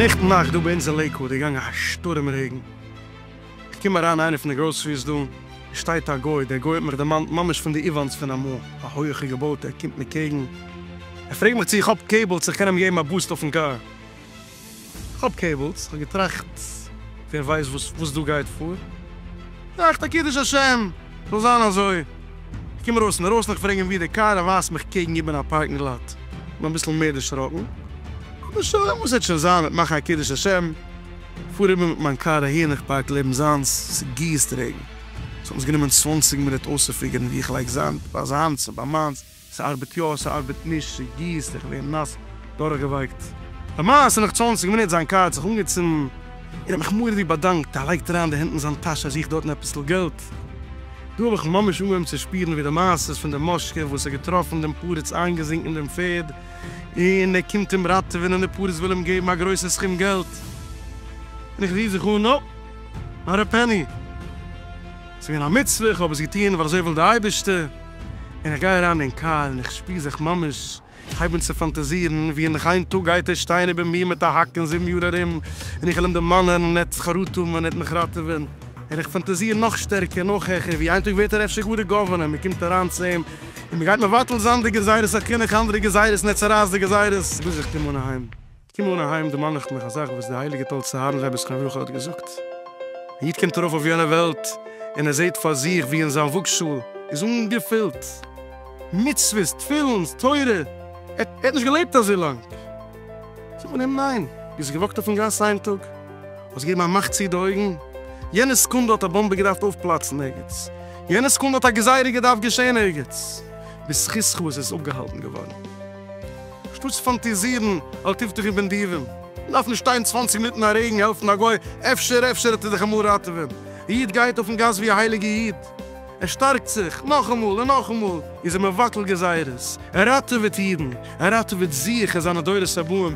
נעכטן נאכט דא ביי אונז אין לעיקוואד איז געגאנגען א שטורעם רעגן, איך קום אריין אין איינע פון די גראסעריס דא, עס שטייט א גוי, דער גוי האט מיך דערמאנט ממש פון די איוואנס פון אמאל, א הויעכע געבויטע, ער קומט מיר קעגן, ער פרעגט מיך צו איך האב קעיבלס איך קען אים געבן א בוסט אויפן קאר. כ'האב קעיבלס, כ'האב געטראכט ווער ווייסט וואס דא גייט פאר, געטראכט א קידוש השם זאל זיין אזוי, כ'קום ארויס אינדערויסן איך פרעג אים ווי די קאר, ער ווייזט מיך קעגן איבער א פארקינג לאט, כ'בין אביסל מער דערשראקן, אבער שוין וואס וועט שוין זיין, מיט מאכן א קידוש השם, כ'פאר איבער מיט מיין קאר אהין, איך פארק לעבן זיינס, ס'גיסט רעגן, ס'האט אונז גענומען צוואנציג מינוט אויסצופיגערן ווי איך לייג זיין ביי זיינס און ביי מיינס. ס'ארבעט יא, ס'ארבעט נישט, ס'גיסט, איך ווער נאס, דורכגעווייקט. למעשה נאך צוואַנציק מינוט זיין קאר האט זיך אנגעצינדן, און האט מיך מורא'דיג ווי באדאנקט, ער לייגט אריין די הענט אין זיין טאש ער זוכט דארטן עפעס'ל געלט, דא האב איך ממש אנגעהויבן צו שפירן ווי די מעשה פון דעם מאשקע וואס האט געטראפן דעם פרץ איינגעזינקן דעם פערד, און ער קומט אים ראטעווען און די פרץ וויל אים געבן א גרויסע סכום געלט, און איך רוף זיך אן נאופ, נאט א פעני, ס'איז געווען א מצוה, איך האב עס געטון ווייל אזוי וויל די אייבערשטער. און איך גיי אריין אין קאר און איך שפיר זיך ממש כ'הייב אן צו פאנטאזירן ווי אין איין טאג גייט ער שטיין איבער מיר מיט א האק אין זיבן יאר ארום און איך וועל אים דערמאנען און ער וועט זיך אראטעמען און ער וועט מיך ראטעווען און איך פאנטאזיר נאך שטערקער נאך העכער ווי איין טאג ווערט ער אפשר גאר די גאווערנער און מ'קומט אריין צו אים און מ'גייט מבטל זיין די גזירות החינוך אנדערע גזירות און ער צורייסט די גזירות ביז איך קום אן אהיים. קום אן אהיים דערמאן איך מיך א זאך וואס די הייליגע טאלצער הארן רבי זכרון לברכה האט געזאגט, א איד קומט ארויף אויף יענע וועלט און ער זעט פאר זיך ווי אין זיין וואגשאהל איז אנגעפילט מצוות, תפילין, תורה, ער האט נישט געלעבט אזוי לאנג, זאגט מען אים ניין, ביסט געוואקט אויפן גאס איין טאג, האסט געגעבן א מאך צו די אויגן, יענע סעקונדע האט א באמבע געדארפט אויפפלאצן ערגעץ, יענע סעקונדע האט א גזירה געדארפט געשעהן ערגעץ, בזכותך איז עס אפגעהאלטן געווארן. שטאטס פאנטעזירן אל תבטחו בנדיבים. מ'דארף נישט שטיין צוואַנציק מינוט אין א רעגן העלפן א גוי, אפשר אפשר וועט ער דיך אמאל ראטעווען. א איד גייט אויפן גאס ווי א הייליגע איד, ער שטארקט זיך, נאכאמאל און נאכאמאל איז ער מבטל גזירות, ער ראטעוועט אידן, ער ראטעוועט זיך און זיינע דורות הבאים.